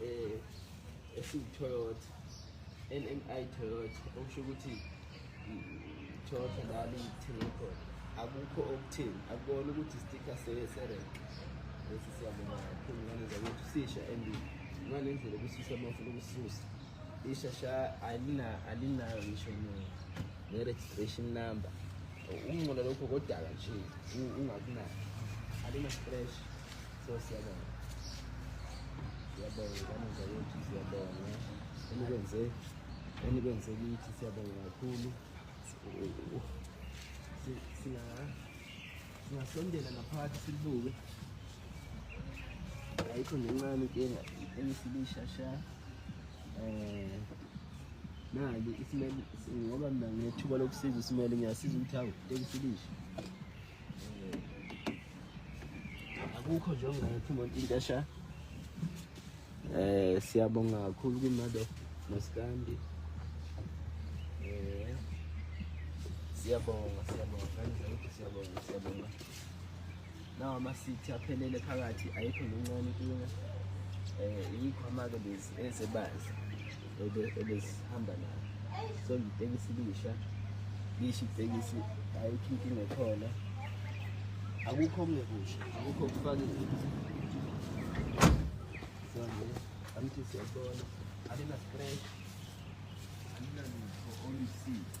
eh esiwuToyota NMI Toyota okusho ukuthi Toyota lami ngithenga khona akukho okuthini akubona ukuthi sticker seserek lesi siyabonga kakhulu ngane zakwethu sisha and ngale ndlela kusisa mafuna ukususa ishasha alina alinayo ngisho ne-registration number ukuncola lokho kodaka nje ungakunayo alina stress so siyabonga siyabonga kanenza yethu siyabonga enikwenze enikwenze kithi siyabonga kakhulu singasondela naphakathi silibuke ayikho nencane inkinga engisilishasha um eh, nali isimele ngoba mina nginethuba lokusiza isimele ngiyasiza ukuthi awu tekusilisha akukho nje ongathi umuntu into esha eh siyabonga kakhulu kumado masikandi eh siyabonga siyabonga kanjalo ukuthi siyabonga siyabonga nawo amasithi aphelele phakathi ayikho nencane inkinga um eh, yikho amake lezi esebazi ebesihamba nayo so ngitekisi lisha lisho itekisi ayikho inkinga ekhona akukho okungekusha akukho okufakile so nje angithi siyabona alina-scratch alinalutho olusizi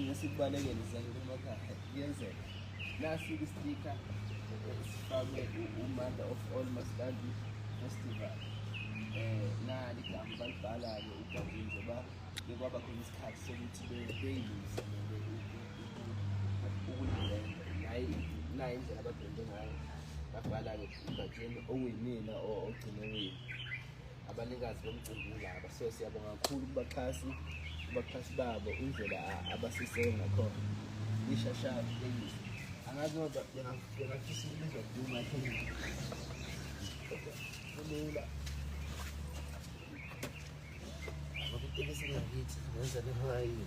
ngesikubalekele zange kumakhaya kuyenzeka nasi istika sifakwe umanda of all maskandi festival um nali gama balibhala-ke ugabini njengoba bekwaba khona isikhathi sokuthi beyiluze ukulilenza naye naye indlela abadonde ngayo babhala-ke ugatsheni owinile ogcine wini abanikazi bomcimbi ulaba so siyabonga kakhulu kubaxhasi kubaxhasi babo indlela abasiseke ngakhona ishashaba leyisi angazi ngoba bengafisa ukubizwa duma kulula ngokutekisela ngithi ngenza lehora yini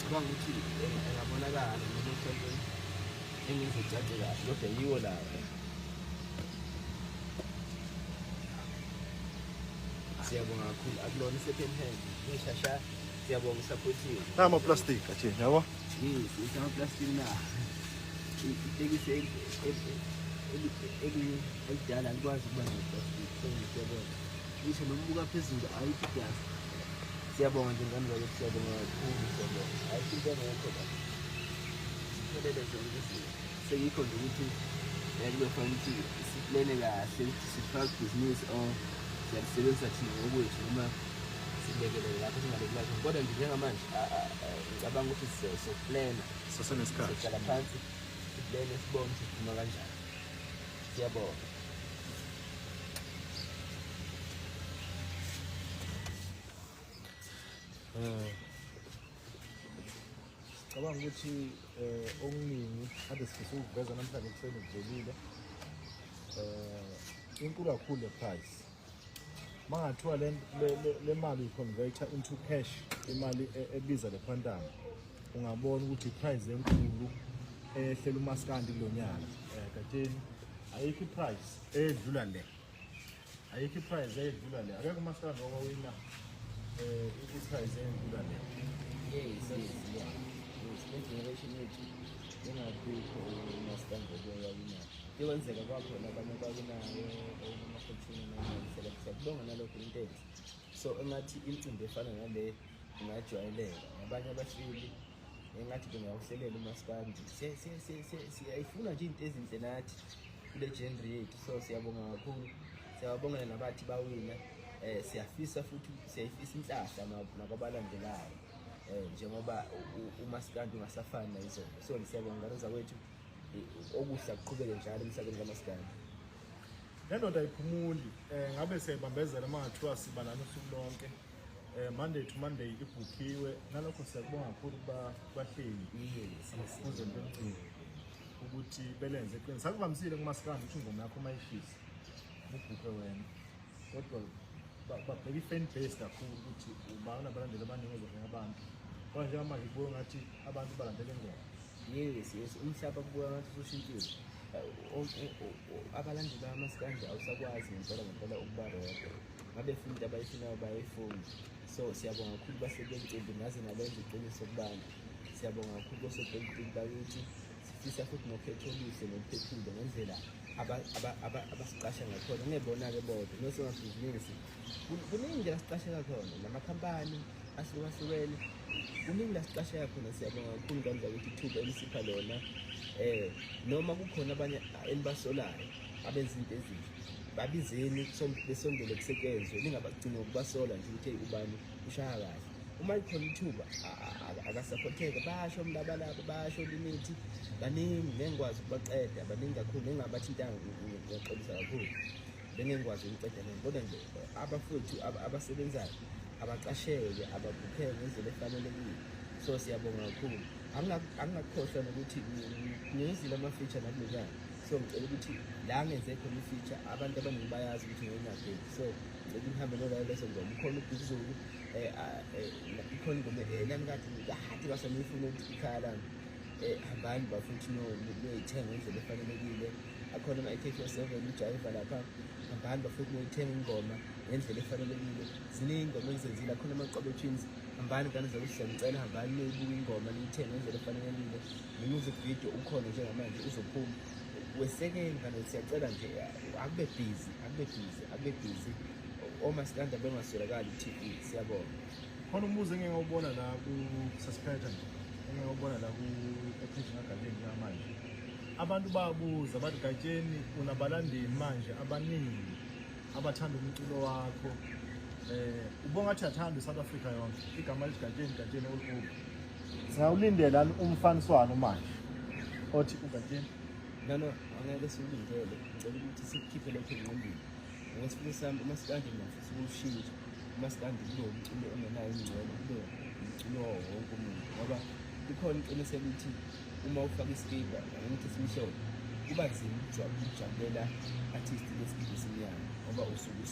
cabanga ukuthi engabonakala noma mhlawumbe engizocace kahle kodwa yiwo lawo siyabonga kakhulu akulona i-second hand ngishasha siyabonga usapothiwe namaplastic athe yabo amaplastic na itekisi elidala alikwazi ukuba neplastic so ngiyabona ngisho nokubuka phezulu ayikho idasi Siyabonga nje ngane zakwethu siyabonga kakhulu siyabonga. Hayi into engekho la. Siphelele zonke izinto. Seyikho nje ukuthi yazi kuyofanele ukuthi siplene kahle ukuthi sifaka ibhizinisi or siyalisebenzisa thina ngokwethu noma silekelele lapho singalekelanga khona. Kodwa nje njengamanje a- a- a- ngicabanga ukuthi sizo- soplena. Sizohlala phansi siplene sibone ukuthi siphuma kanjani. Siyabonga. Eh. Cabanga ukuthi eh okuningi ade sifisa ukuveza namhlanje kuseni kuvelile. Eh inkulu kakhulu le price. mangathiwa le, le, le, le mali uyiconverter into cash imali e, ebiza le quantum ungabona ukuthi iprice enkulu ehlela umaskandi kulo nyaka eh, kateni ayikho iprice edlula le ayikho iprice edlula le akekho umaskandi owawina eh, iprice edlula le yes yes yeah. yes le generation yethu engabikho umaskandi owawina Ikwenzeka kwakhona abanye bakunayo emakhethini namaselektheni kubonga nalokho into enhle so engathi imicimbi efana nale ingajwayeleka abanye abasili engathi bengawuhlelela umaskandi siyayifuna nje into ezinhle nathi kule genre yethu so siyabonga kakhulu siyababongela nabathi bawina um siyafisa futhi siyayifisa inhlahla nakwabalandelayo um njengoba umaskandi ungasafani nayizolo so ngisiyabonga ngane zakwethu okuhle kuqhubeke njalo emhlabeni kamaskandi nendoda ayiphumuli um ngabe siyayibambezela uma ngathiwa siba nani usuku lonke um monday to monday ibhukhiwe nalokho siyakubonga kakhulu kubahleli kuzento emcini ukuthi belenze eqini sakuvamisile kumasikandi ukuthi ingoma yakho uma ishisa ubhukhe wena kodwa babheka i-fan base kakhulu ukuthi ubana abalandeli abaningi ozohlenga abantu kodwa njengamanje kubuye ngathi abantu balandela ingoma Yes, yes, umhlaba kubuka ngathi usushintshile. Abalandeli bamasikanje awusakwazi ngempela ngempela ukuba rodwa. Ngabe funa into abayifunayo bayayifuna. So siyabonga kakhulu basebentimbi ngaze nalenza iqiniso kubantu. Siyabonga kakhulu basebentimbi bakithi sifisa futhi nokhetho oluhle noluphephile ngendlela abasiqasha ngakhona ngebona-ke bodwa nosomabhizinisi kuningi nje lasiqasheka khona namakhampani ahlukahlukene kuningi lasiqasheka khona siyabonga kakhulu kandla ukuthi ithuba elisipha lona um noma kukhona abanye enibasolayo abenza into ezinhle babizeni besondele kusetshenzwe ningabagcini ngokubasola nje ukuthi ubani ushaya kahle uma likhona ithuba akasaphotheke basho umlabalaba basho limithi baningi ngengikwazi ukubaqeda baningi kakhulu engingabathintanga ngiyaxolisa kakhulu bengengikwazi ukuceda lento kodwa nje abafowethu abasebenzayo abaqashelwe abakhokhelwe ngendlela efanelekile so siyabonga kakhulu angingakukhohlwa nokuthi ngiyenzile ama-feature nakulokana so ngicela ukuthi la ngenze khona i-feature abantu abaningi bayazi ukuthi ngiyonageki so ngicela ngihambe nolayo leso ngoma ukhona ubhukuzulu um eh, ah, eh, ikhona ingoma enami kade kahade kasaniyifuna ukuthi ikhaya lami um hambani bafowethu noyithenga ngendlela efanelekile akhona ama-ak four seven ujayiva lapha abantu bafuna ukuyithenga ingoma ngendlela efanelekile ziningi ingoma engizenzile akhona amaqobe twins hambani ngane zakuhle ngicela hambani niyoyibuka ingoma niyithenge ngendlela efanelekile ne-music video ukhona njengamanje uzophuma wesekeni ngane siyacela nje akube busy akube busy akube busy omasikanda bengaswelakali ku-tv siyabona khona umbuzo engingawubona la ku-suspector engingawubona la ku-ephejini agadeni njengamanje Abantu babuza bathi Gatsheni unabalandeli manje abaningi abathanda umculo wakho eh ubonga ukuthi athanda iSouth Africa yonke igama lithi Gatsheni Gatsheni olukhulu singawulindela umfaniswano manje othi uGatsheni nano angeke siwulindele ngicela ukuthi sikhiphe lokho engqondweni ngokwesifuna sami uma sikanje ngiyafisa ukushintsha uma sikanje kube umculo ongenayo ingcwele kube umculo wonke umuntu ngoba ikhona iqiniselo ukuthi uma ufaka isikibha ukuthi simhlophe kuba nzima ukujabulela artist lesikibha esimnyama ngoba usuke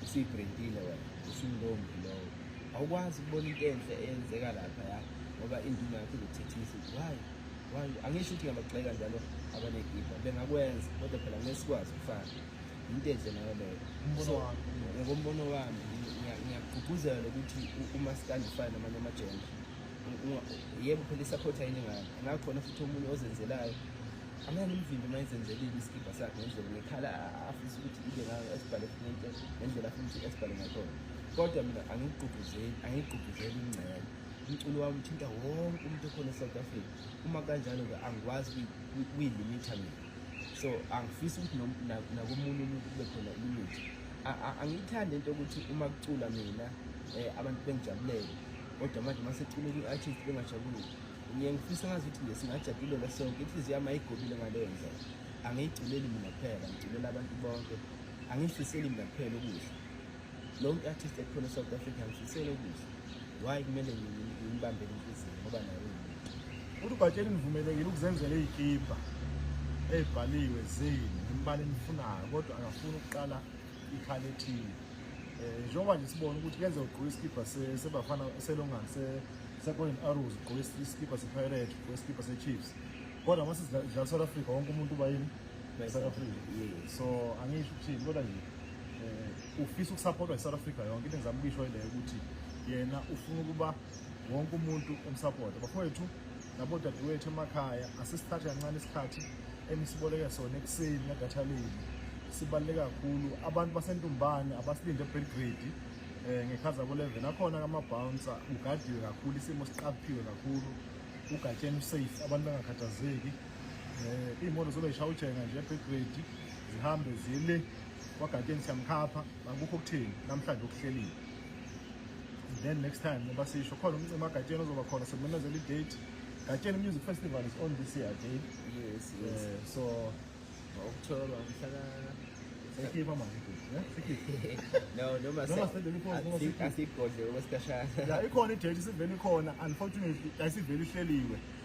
usuyibrendile wena usumlombi lowo awukwazi ukubona into enhle eyenzeka lapha ya ngoba induna yakho izothethisa why why angisho ukuthi ngiyabagxeka njalo abanegibha bengakwenza kodwa phela ngeke sikwazi ukufana yinto enhle nayo leyo ngokombono wami ngiyagqugquzela ukuthi umasikandi ufane namanye amajenda yebo phela isaphothi ayiningani ngakhona futhi omunye ozenzelayo angeke ngimvimbe uma ezenzelile isikibha sakhe ngendlela ngekhala afisa ukuthi ibe ngayo esibhale into ngendlela afuna ukuthi esibhale ngakhona kodwa mina angikugqugquzeli angikugqugquzeli ingcele umculo wami uthinta wonke umuntu okhona e-south africa uma kanjalo-ke angikwazi kuyilimitha mina so angifisi ukuthi nakomunye umuntu kube khona ilimithi angiyithandi into yokuthi uma kucula mina um abantu bengijabulele kodwa manje maseculeka i-artist bengajabulile ngiye ngifisa ngazi ukuthi nje singajabulela sonke inhliziyo yami ayigobile ngaleyo ndlela angiyigculeli mina kuphela ngiculela abantu bonke angiyifiseli mina kuphela okuhle lo mntu artist ekhona e-south africa ngifisele okuhle why kumele ngimbambele inhliziyo ngoba nayo uthi ugatshela nivumelekile ukuzenzela iy'kibha ey'bhaliwe zini ngimbala enifunayo kodwa akafuni ukuqala ikhala ethile eh, njengoba nje sibona ukuthi kenze ugqoke isikibha sebafana selongani secoin arrows ugqoke isikibha sepirate ugqoke isikibha sechiefs kodwa uma sidlala south africa wonke umuntu uba yini south africa so angisho ukuthini kodwa nje um ufisa ukusapotwa yi-south africa yonke into engizama ukuyisho ileyo ukuthi yena ufuna ukuba wonke umuntu umsapota bafowethu nabo dadewethu emakhaya asisithathe kancane isikhathi enisiboleke sona ekuseni ngedatha lenu sibaluleke kakhulu abantu basentumbane abasilinde ebelgrade um eh, ngekhaza kulevel akhona kamabhounsa ugadiwe kakhulu isimo siqaphiwe kakhulu ugatsheni usafe abantu bangakhathazeki um eh, iy'moto zobe yishaya ujenga nje ebelgrade zihambe zile kwagatsheni siyamkhapha akukho okutheni namhlanje okuhleliwe then next time ngoba sisho khona umcima gatsheni ozoba khona sekumemezela i-date gatsheni music festival is on this year day yes, yes. Uh, so okutholwa mhlaka sekhipha manje no noma asigodle okwesikhashana ikhona i-date isivele ikhona unfortunately ayisivele ihleliwe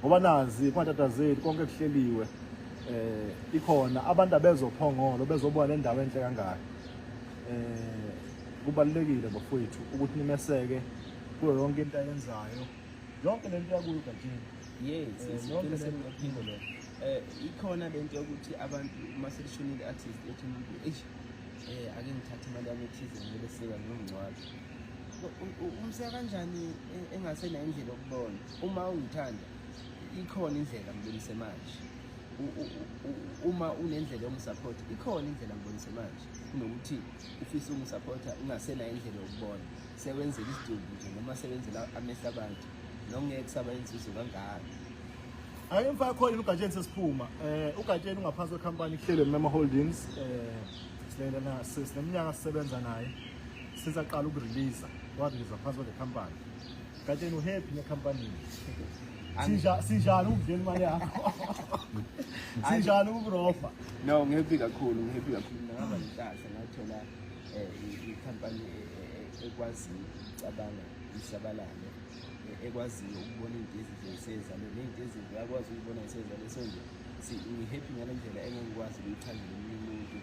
ngoba nazi kungatatazeli konke kuhleliwe eh ikhona abantu abezophongolo bezobuka le ndawo enhle kangaka eh kubalulekile bafowethu ukuthi nimeseke kuyo yonke into ayenzayo yonke lento yakuyo gajini yes eh, yonke lento iphinde lo eh ikhona lento yokuthi abantu uma selishonile artist ethi umuntu eish eh ake ngithathe imali yami ethize ngibeseka ngomncwadi umseka kanjani eh, engasenayo indlela yokubona uma ungithanda ikhona indlela ngibonise manje uma unendlela yokungisaphotha ikhona indlela ngibonise manje kunokuthi ufise ukungisaphotha ungasenayo indlela yokubona sewenzela isidumbu nje noma sewenzela amehlo abantu nongeke kusaba inzuzo kangaka Ake mfaka khona ugatsheni sesiphuma. Eh ugatsheni ungaphansi kwecompany kuhlelo Mema Holdings eh silela na sinemnyaka sisebenza naye since aqala ukurelease warelease phansi kwe company. Katsheni uhappy nekhampani. Sinja sinjalo ukudlela imali yakho. Sinjalo ukurofa. No, ngihappy kakhulu, ngihappy kakhulu. Ngaba inhlanhla ngathola eh ikhampani ekwazi cabanga isabalale ekwaziyo ukubona into ezinhle isezalo nento ezinhle akwazi ukubona isezalo so nje ngihappy ngale ndlela engekwazi ukuyichazela omunye umuntu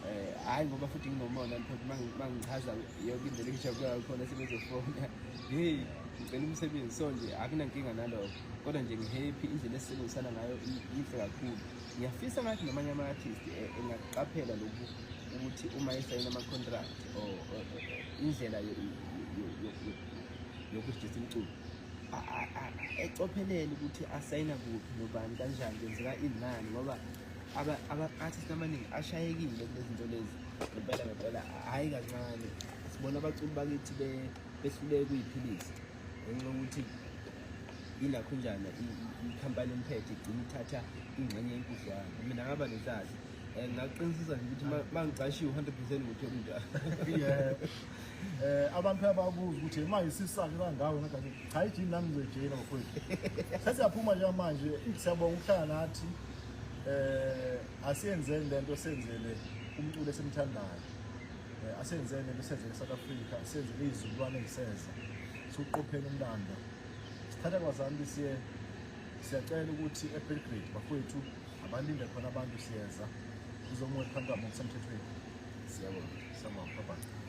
Eh, hayi ngoba futhi nginomona mfowethu mangichaza yonke indlela engijabula khona sebezofona hey ngicela umsebenzi so nje akunankinga nalokho kodwa nje ngihappy indlela esisebenzisana ngayo yinhle kakhulu ngiyafisa ngathi namanye ama-artist eh, engaqaphela lokhu ukuthi uma esayina ama-contract or indlela yokudijisa imculo ecophelele ukuthi asayina kuphi nobani kanjani kwenzeka inani ngoba ama-artist amaningi ashayekile kulezinto lezi ngempela ngempela hhayi kancane sibona abaculi bakithi behluleke kuyiphilisa ngenxa yokuthi yilakhunjana ikhampani emphethe igcina ithatha ingxenye yenkudlwana mina ngaba nehlazi um ngaqinisisa nje ukuthi ma ngicashiwe u-hundred percent ngothola into um abantu ababuza ukuthi manje sisake kangawo hayi jini nami ngizoyijeyina mfowethu sesiyaphuma njengamanje siyabonga ukuhlala nathi eh asiyenzeni lento senzele umculo esimthandayo eh, asenzele lento senzele South Africa senzele izizukulwane eziseza suqophela umlando sithatha kwazanti siye siyacela ukuthi eBelgrade bafowethu abalinde khona abantu siyeza sizomwe phantsi ngokusemthethweni siyabonga siyabonga bye